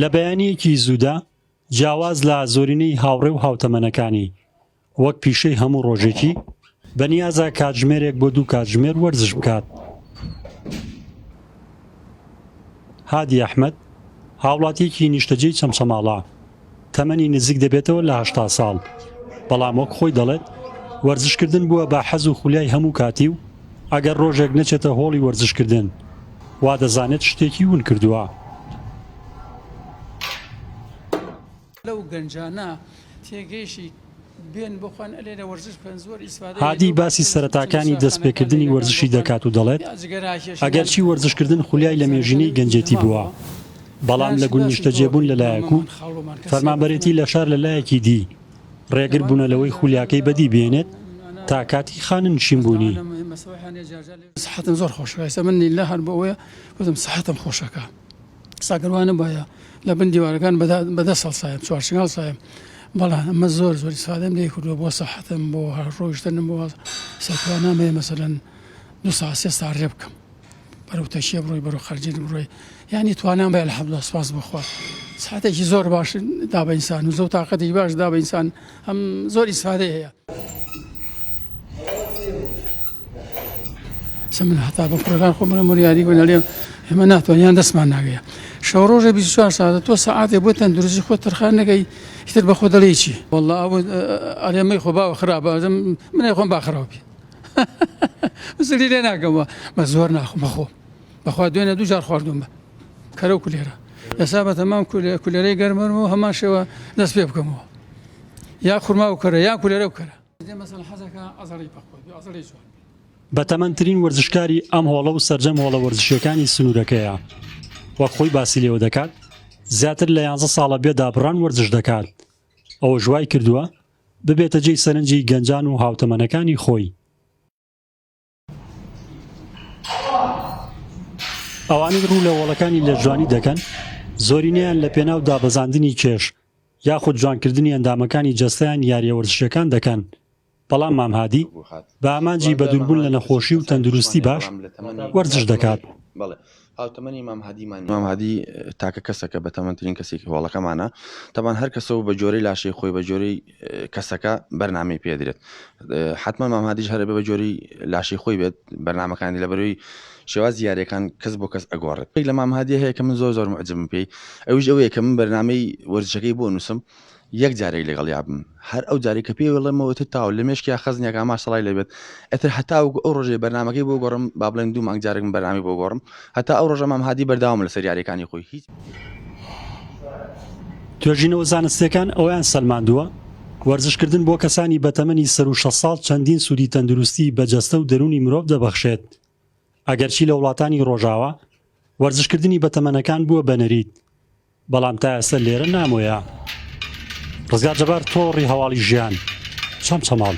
لە بەیانییەکی زوودا جیاواز لە زۆرینەی هاوڕێ و هاوتەمەنەکانی، وەک پیشەی هەموو ڕۆژێکی، بەنیازە کاتژمێرێک بۆ دوو کاتژمێر وەرزش بکات. هادی ئەحمەد، هاوڵاتییەکی نیشتەجێی چەمچەماڵە، تەمەنی نزیک دەبێتەوە لە هەشتا ساڵ، بەڵام وەک خۆی دەڵێت، وەرزشکردن بووە بە حەز و خولیای هەموو کاتی و ئەگەر رۆژێک نەچێتە هۆڵی وەرزشکردن، وا دەزانێت شتێکی ون کردووە. لەو گەنجانە تێگەیشتی هادی باسی سەرەتاکانی دەستپێکردنی وەرزشی دەکات و دەڵێت، ئەگەرچی وەرزشکردن خولیای لەمێژینەی گەنجێتی بووە، بەڵام لە گوند نیشتەجێبوون لەلایەک و فەرمانبەرێتی لەشار لەلایەکی دی، رێگر بوونە لەوەی خولیاکەی بەدی بێنێت تا کاتی خانەنشینبوونی. ئێستا گەر وا نەبوایە لە بن دیوارەکان بە دە- بە دەست هەڵسایم چوار چنگ هەڵسایم بەڵام ئەمە زۆر زۆر ئیسفادەم لێ کردووە بۆ سەحەتم بۆ هەر ڕۆیشتنم بۆ سەرتوانام هەیە مەسەلەن دو سا سێ سا ڕێ بکەم بەرەو تەشیە بڕۆی بەرەو خەرجین بڕۆی یعنی توانام بە الحمدلله سپاس بۆ خوا ساعتێکی زۆر باش دا بە ئینسان و زۆر تاقەتێکی باش دا بە ئینسان ئەم زۆر ئیسفادەی هەیە سەمن هەتا بە کوڕەکان خۆ بڵێ مریاری بە لەێ ئێمە ناتوانیان دەستمان ناگەیە شەو ڕۆژە 24 ساعتە تۆ سەعاتێ بۆ تەندروستی خۆ تەرخان نەگەی ئیتر بە خۆ دەڵێ چی والله ئەرێمەی خۆ باوە خراپەزم منێ خۆم باخراوبی زلی لێ ناگەمەوە بە زۆر ناخم بەخۆ بەخوا دوێنێ دوو جار خواردوم بە کەرە و کولێرە ئێسا بە تەمام کولێرەی گەرمەرم و هەمان شێوە دەست پێ بکەمەوە یا خورما و کەرە یا کولێرە و کەرە بەتەمەندترین وەرزشکاری ئەم هۆڵە و سەرجەم هۆڵە وەرزشیەکانی سنوورەکەیە وەک خۆی باسی لێوە دەکات زیاتر لە یانزە ساڵە بێ دابڕان وەرزش دەکات ئەوە ژوای کردووە ببێتە جێی سەرنجی گەنجان و هاوتەمەنەکانی خۆی ئەوانەی ڕوو لە وەڵەکانی لە جوانی دەکەن زۆرینەیان لە پێناو دابەزاندنی کێش یاخود جوانکردنی ئەندامەکانی جەستەیان یاریە وەرزشیەکان دەکەن بەڵام مامهادی بە ئامانجی بەدوربوون لە نەخۆشی و تەندروستی باش وەرزش دەکات. هاوتەمەنی مام هادی مانی مام هادی تاکە کەسە کە بەتەمەندترین کەسێکی هۆڵەکەمانە تەبان هەر کەسە و بە جۆری لاشەی خۆی بە جۆری کەسەکە بەرنامی پێدرێت حتمما مام هادیش هەر بە جۆری لاشی خۆی بێت بەرنمەکانی لە بەروی شێواز دیارەکان کەس بۆ کەس ئەگۆڕێت پێک لە مام هادی هەیە کە من زۆر زۆر معجبم پێی ئەوش ئەوەیە کە من بەرنمەی وەرزشەکەی بۆ نووسم یەک جارێک لەگەڵیا بم هەر ئەو جارێک کە پێی وڵێمەوە ئیتر تاو لە مێشکیا خەزنێک ئامار سەڵای لێ بێت ئیتر هەتاوەکو ئەو ڕۆژەی بەرنامەکەی بۆ گۆڕم با بڵێن دوو مانگ جارێکم بەرنامەی بۆ گۆڕم هەتا ئەو ڕۆژە مام هادی بەردەوامە لەسەر یارییەکانی خۆی هیچ توێژینەوە زانستییەکان ئەوەیان سەلماندووە، وەرزشکردن بۆ کەسانی بەتەمەنی سەروو شەست ساڵ چەندین سوودی تەندروستیی بە جەستە و دەروونی مرۆڤ دەبەخشێت، ئەگەرچی لە وڵاتانی ڕۆژاوا وەرزشکردنی بەتەمەنەکان بووە بە نەریت، بەڵام تا ئێستە لێرە نامۆیە. ڕزگار جەبار تۆڕی هەواڵی ژیان چەمچەماڵ.